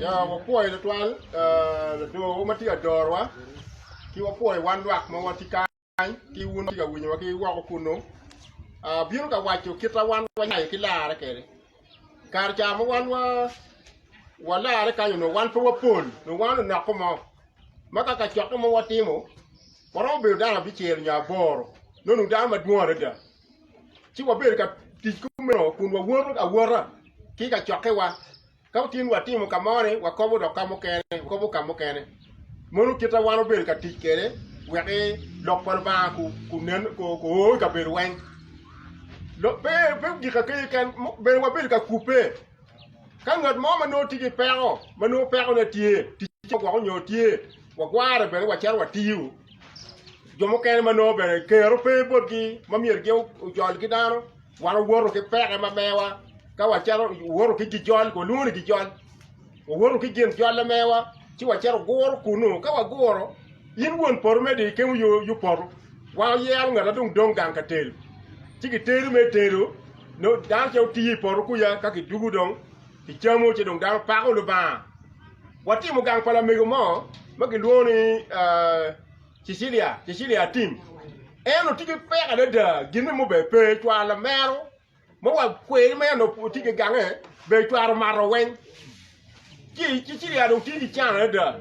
Wapwoyo tutwal Ladwowa ma tye ka dorowa, ki wapwoyo wan lwak ma watye kany, ki wun ma wutye ka winyowa ki woko kunnu. Abino ka waco kit ma wan wanyayo ki larre kwede. Kare ca ma wan walarre kany onongo wan pe wapol, onongo wan onoko mo, ma ka kacokke mo watimo, waromo bedo dano abicel nyo aboro, nongo onongo dano madwong adada. Ci wabedo ka tic kumeno kun wawoto awota ki i kacokkewa. Ka wutye ni watimo ka mo-ni, wakobo dok ka mukene, wakobo ka mukene. Mono kite wan wubedo ka tic kwede wek Lok pa Lubanga guo i kabedo weng. Pe gika keken, bene wabedo ka kubbe. Ka ngat mo ma nongo tye ki peko, ma nongo pekone tye, ticce ogwoko nyo tye, wagware bene wacito watiyo. Jo mukene ma nongo bene kero pe botgi ma myero gin ojol ki dano, Wan wawoto ki peke ma mewa ka wacito wawoto ki gijol, walwongo ni gijol. Wawoto ki gin jolle mewa ci wacito waguro kunu. Ka waguro, in won poto me di ikemo yo yo poto, wa oyero ngata dong dong gang ka telo. Ci gitelo me telo, no dano ce otiyo i poto kuca ka kidugu dong kicamo ci dong dano pako Lubanga. Watimo gang pa lamego mo ma gilwongo ni ah, Cecilia, Cecilia Atim, en otye ki peko adada gin mo bene pe cwalo lamero ma wa kweri ma en otye ki gange bene cwalo mato weng ci Cecilia dong tye ki can adada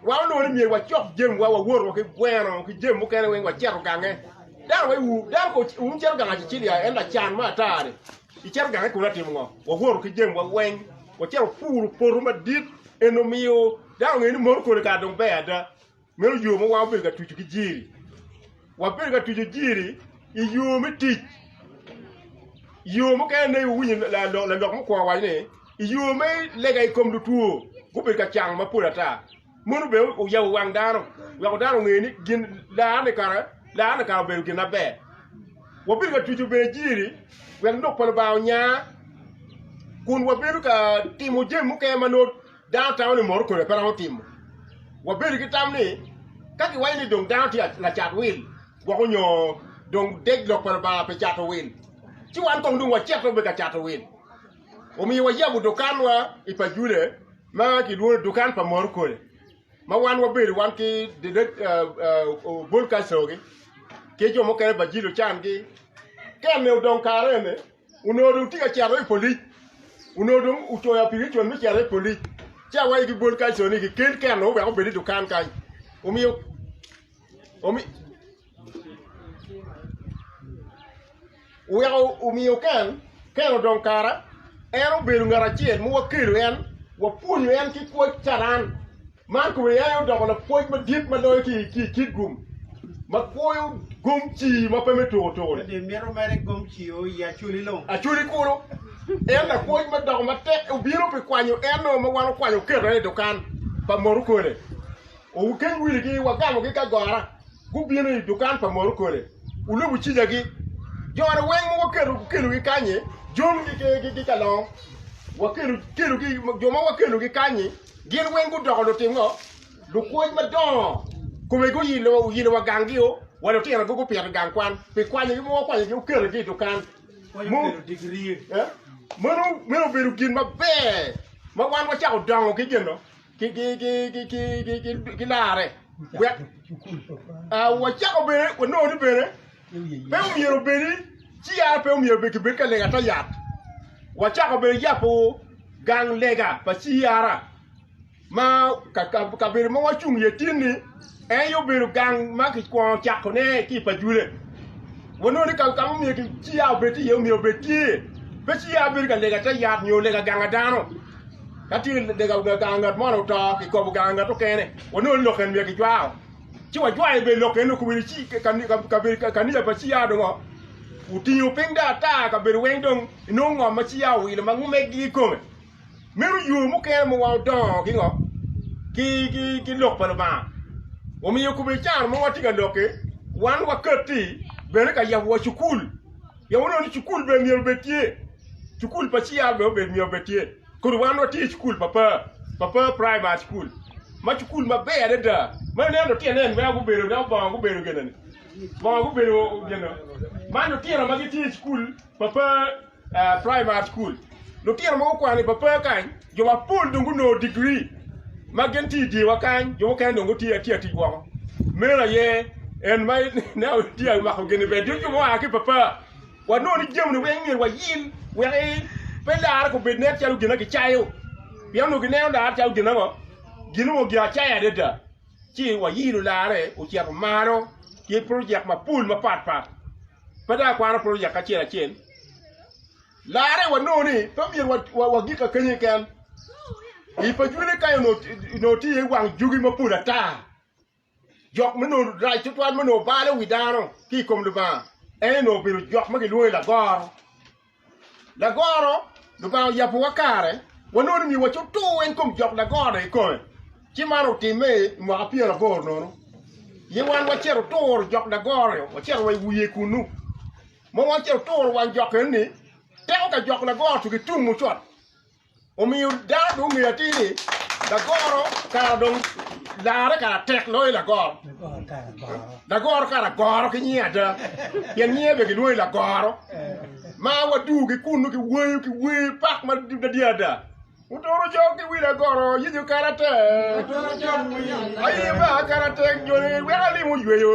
wa onongo ni myero wacok jami wa wawot wa ki gweno ki jami mukene weng waceto gange dano wa iwu dano ko wun wucito gang a Cecilia en lacan ma ata ni icito gange kunu atimo ngo wawoto ki jami wa weng waceto puro poto madit eno miyo dano ongeyo ni moto kodi kare dong ber ada Meno yo ma wan obedo ka tucu ki jiri. Wabedo ka tucu jiri i yo me tic. Yo mukene ne iwinyo lalok mukwo waco ni i yo me lega i kom lutwo gubedo ka cango mapol ata. Mono bene oyabo wang dano weko dano onge ni gin larne kara larne kara obedo gin maber. Wabedo ka tucu bene jiri wek lok pa Lubanga onya kun wabedo ka timo jami mukene ma nongo Dano tamo ni mot kodi pe romo timo wabedo ki tam ni ka kiwaco ni dong dano tye lacat wil gwoko nyo dong dek lok pa Lubanga pi cato wil, ci wan kong dong wacito bene ka cato wil. Omiyo wayabo dukanwa i Pajule ma kilwongo ni Dukan pa Mot Kodi, ma wan wabedo wan ki Obol Kacoki ki jo mukene Bajilo Can-gi. Ka en-ni odong kare eni, Onongo dong tye ka cito i polic, onongo dong ocoyo apikipiki me cito i polic ci awaco ki bol kany co ni gikel keno wek obed i dukan kany omiyo weko omiyo keno odong kara en obedo ngat acel ma wakelo en wapwonyo en ki pwoc carani. Mark bene aye odoko lapwony madit ma loyo ki i kit gum, ma kwoyo gom cii ma pe me tuko tuko. Ka dong imito mere gom cii o i acoli lo. Acoli kulu. En lapwony ma doko matek, obino pi kwanyo en-nu ma wan okwanyo oketo en i dukan pa moto kole. Okeny wiligi, wagamogi ki agora, gubino i dukan pa moto kole. Olubo cigagi. Jone weng ma waketo gukelogi kany-nyi, John ki ki ki kalong, wakelogi, jo ma wakelogi kany-nyi, Gin weng gudoko lutim ngo? Lupwony madongo. Kome guyilo wa gang gi o, wa lutino go gupito i gang kwan, pi kwanyo gi mogo wakwanyo gi oketo gi i dukan. Meno obedo gin maber ma wan wacako dongo ki gin no ki larre. Wacako bene wanongo ni bene. Pe omyero obed ni CR pe omyero obed kibed ka lega ta yat. Wacako bene yabo gang lega pa CR ma kabedo ma wacung iye tin-ni en aye obedo gang ma kikwongo cakone ki i Pajule. Wanongo ni ka ma omyero CR obed iye omyero obed tye. Pe CR bedo ka lega ta yat nyo lega ganga dano. Ka tye lega ganga ngat mo oto kikobo ganga ngat mukene. Wanongo ni lok eni myero kicwako. ci wajwayo i belok eno kobedi ci kabedo kanija pa ciya dong otingo piny dong ata kabedo weng dong inongo ngom ma ciya owilo ma ngumegi kikome meno yo mukene ma wa odongo ki ngo ki lok pa lubanga omiyo kobedi caro mo watye ka lokke wan wakati bene ka yabo wa cukul pien wunongo ni cukul bene myero obed tye cukul pa ciya bene myero obed tye Kodi wan watye i cukul pa par, Papar Primary School, ma cukul maber adada. Ma ineno lutino en ma gubedo dok bongo gubedo gin ni, bongo gubedo gin ni. Man lutino ma gitye i cukul Papar Primary School. Lutino ma gukwano i Papar kany, jo mapol dong gunongo digri ma gin tye i dyewa kany, jo mukene dong gitye atye tic woko. Meno aye en ma ineno tye ka mako gin ni ber, dong jo mua ki i Papar. Wanongo ni jami-ni weng myero wayil wek pe larre obed nen calo gin ma kicayo, pien onongo kineno larre calo gin ango? Gin onongo gin acayo adada. Ci wayilo larre ocito malo ki projek mapol mapat pat, pe dong akwano projek acel acel. Larre wanongo ni pe myero wagik akenya keken, i pajwine kany onongo tye iye wang jogi mapol ata Jok ma nongo rac tutwal ma nongo balo wi dano ki i kom Lubanga en nongo obedo jok ma gilwongo ni lagoro. Lagoro Lubanga oyabowa kare wanongo ni myero wacub tur weng kom jok lagoro-ni i kome, ci man otimme i mwaka pyero aboro nono. Aye wan wacito turo jok lagoro-ni wacito wa i wiye kunnu ma wacito turo wang jok eno-ni teko ka jok lagoro-tu gitum mucot. Omiyo dano dong ongeyo atir ni lagoro kara dong larre kara tek loyo lagoro. Lagoro kara goro ki nyinge ada, pien nyinge bene gilwongo ni lagoro. Ma waduu ki kunu ki weyo ki wer pak madadi ada. Otoro cok ki wi lagoro yecu kara tek, aye ba kara tek joni weko alim oyweyo.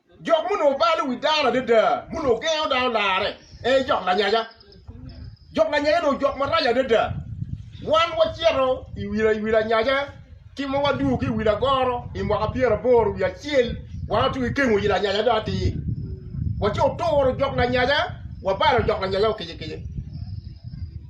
Jok ma onongo balo wi dano adada, ma onongo gengo dano larre, ee jok lanyaja. Jok lanyaja onongo jok marac adada. Wan wacito i wi i wi lanyaja ki ma wadwogo ki i wi lagoro i mwaka pyeraboro wiye acel, wan watye ki kengo i lanyaja dong atir. Waco oturo jok lanyaja, wabalo jok lanyaja okicikicci.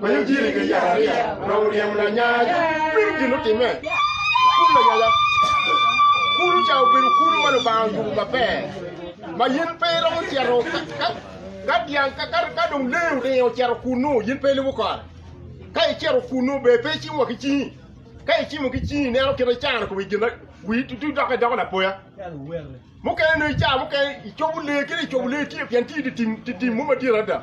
Ma yo jiri ki yat ariya onongo oryemo lanyanya piny gin otime kulu lanyanya kulu ca obedo kulu ma lubanga oyubo maber ma yin pe iromo cito ka dyang ka dong lee oringo ocito kunu yin pe ilubo kore ka icito kunu ber pe icimo wa ki cingi ka icimo ki cingi ineno kit ma icano kome gin wii tutu dok idoko lapoya mukene dong ica mukene icobo lee kadi icobo lee tye pien tye idye tim mo madit adada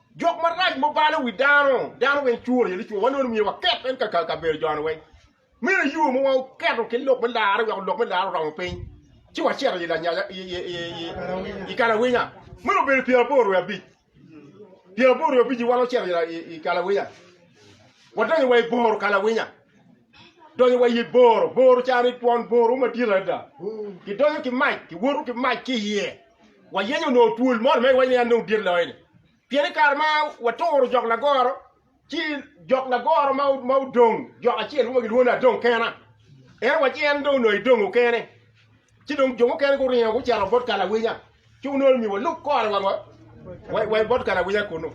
Jok marac mo balo wi dano, dano weng curo aye licwa, wanongo ni myero waket en ka kabedo joni weng. Meno i yo mo wa oketo ki lok me larre weko lok me larre oromo piny, ci wacito i lanyaja i kalawinya. Meno obedo pyera aboro ryo abic, pyera aboro ryo abic-ci wan wacito i kalawinya, wadonyo wa i boro kalawinya. Donyo wa i boro, boro ca ni twon boro madit adada. Kidonyo ki mac, kiwoto ki mac ki iye. Wayenyo onongo twol moni ma iwaco ni an dong dit loyo-ni. Pien i kare ma waturo jok lagoro, ci jok lagoro ma odong, jok acel mo ma gilwongo ni adong kena. Ento wa ci en dong onongo edongo kene. Ci dong jo mukene guringo gucito bot ka lawinya, ci onongo ni walub kore wa wa i bot ka lawinya kunu.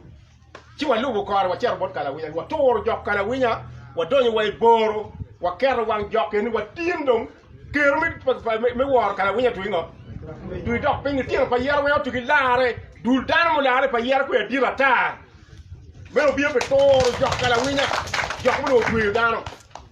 Ci walubo kore wacito bot ka lawinya, waturo jok ka lawinya, wadonyo wa i boro, waketo wang jok keni, watin dong kero me me woro ka lawinya twi ngo? Twi dok piny litino pa yero weng otugi larre, dul dano mularre pa yero kwe adit ata. Meno obiyo pi turo jok ka lawinya, jok ma onongo otweyo dano.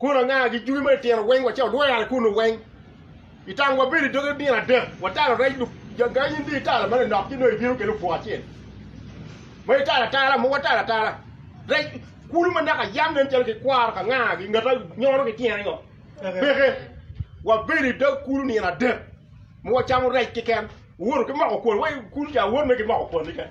Kun anga ki jubi ma itito weng wa ce odwere kunu weng? I tang wabedo i doge nino adek, watalo rec lub gangi in dong italo ma lanok ci dong ibino kelo pwo acel. Ma italo atala mo watalo atala. Rec kulu ma naka yam nen calo gikwaro ka nga gi ngata nyono ki tyene ngo. Peke wabedo i dog kulu nino adek ma wacamo rec kiken. Wuwoto ki moko kwon, wa kulu ca wot me ki moko kwon ni kene.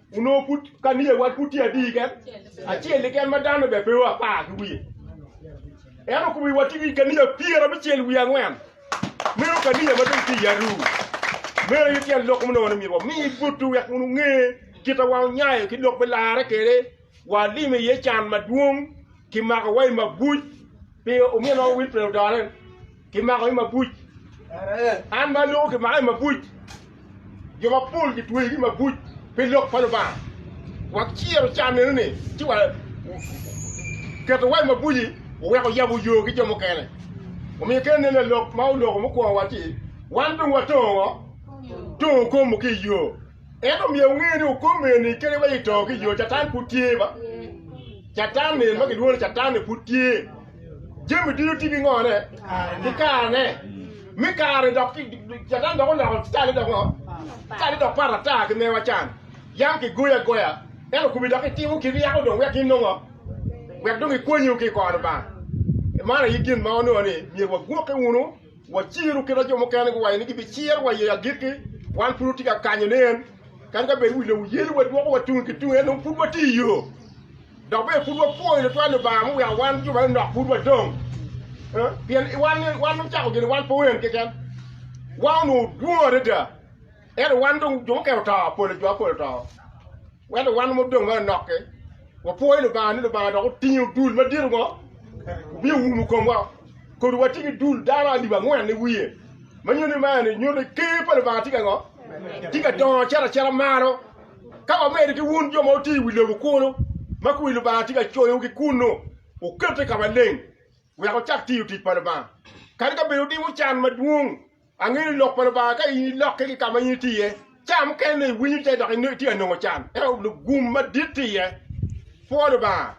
Onongo pud ka niye wat pud tye adi keken, acel keken ma dano bene pe apar ki wiye. En okubo i watti ki ka niye pyera bicel wiye angwen. Meno ka niye ma dong tye i aru. Meno aye tyen lok muno ni myero wami butu wek wun wunge kit ma wan wunyayo ki lok me larre kede, walimo iye can madwong, kimako wa i mabuc pi omyero nongo Wilfred odore. Kimako ki mabuc. An ma alwongo kimako ki mabuc. Jo mapol kitweyo ki mabuc pi lok pa Lubanga. Waciro can eno ni ci wa keto wai mabuci oweko yabo yo ki jo mukene. Omiyo kene nen la lok ma oloko mukwongo wa ci wan dong watongo ngo? Tongo okomo ki iyo. Ento myero wunge ni okomo eni kadi wa ci tongo ki iyo, Catan pud tye ba. Catan eni ma kilwongo ni Catan-ni pud tye. Jami ducu tye ki ngone ki karane me kare dok catan dok oloko cale dok ngo cale dok pat ata ki mewa can yam ki goyi agoya ento kubi dok itimo kit yako dong wek inongo wek dong ikonyiwu ki kor Lubanga man aye gin ma wanongo ni myero wagwoki wunu waciru kit ma jo mukene guwaco ni gibi ciro wa i agikki wan pud watye ka kanyo ne en kadi ka bed wi lobo yelo wadwoko wa tung ki tung ento pud watye iyo Dok bene pud wapwoyo tutwal Lubanga ma oweko wan jo ma lunok pud wadong, pien wan ocako gin wan pe wen keken. Wan onongo dwong adada, ento wan dong jo mukene oto, pol jo apol oto. Ento wan ma odong ma lunok-ki, wapwoyo Lubanga ni Lubanga dok otingo dul madito ngo, obin oumo komwa, kodo watye ki dul dano alip angwen i wiye, ma nyuto ni man aye nyuto ni Ker pa Lubanga tye ka ngo? Tye ka dongo cito acita malo. Ka wamedde ki wun jo ma wutye i wi lobo kunu, ma kwir Lubanga tye ka coyowu ki kunnu, wukette ka maleng wek wucak tiyo tic pa Lubanga. Kadi ka bed wutimo can madwong, angeyo ni lok pa Lubanga ka in ilokke ki ka ma in itye iye, ca mukene iwinyo tek dok itye ka nongo can, ento lugum madit tye iye. Pwo Lubanga!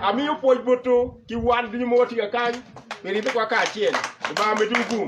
Amiyo pwoc botwu ki wan ducu ma watye kakany pi ribbewa kacel. Lubanga omedwu gum.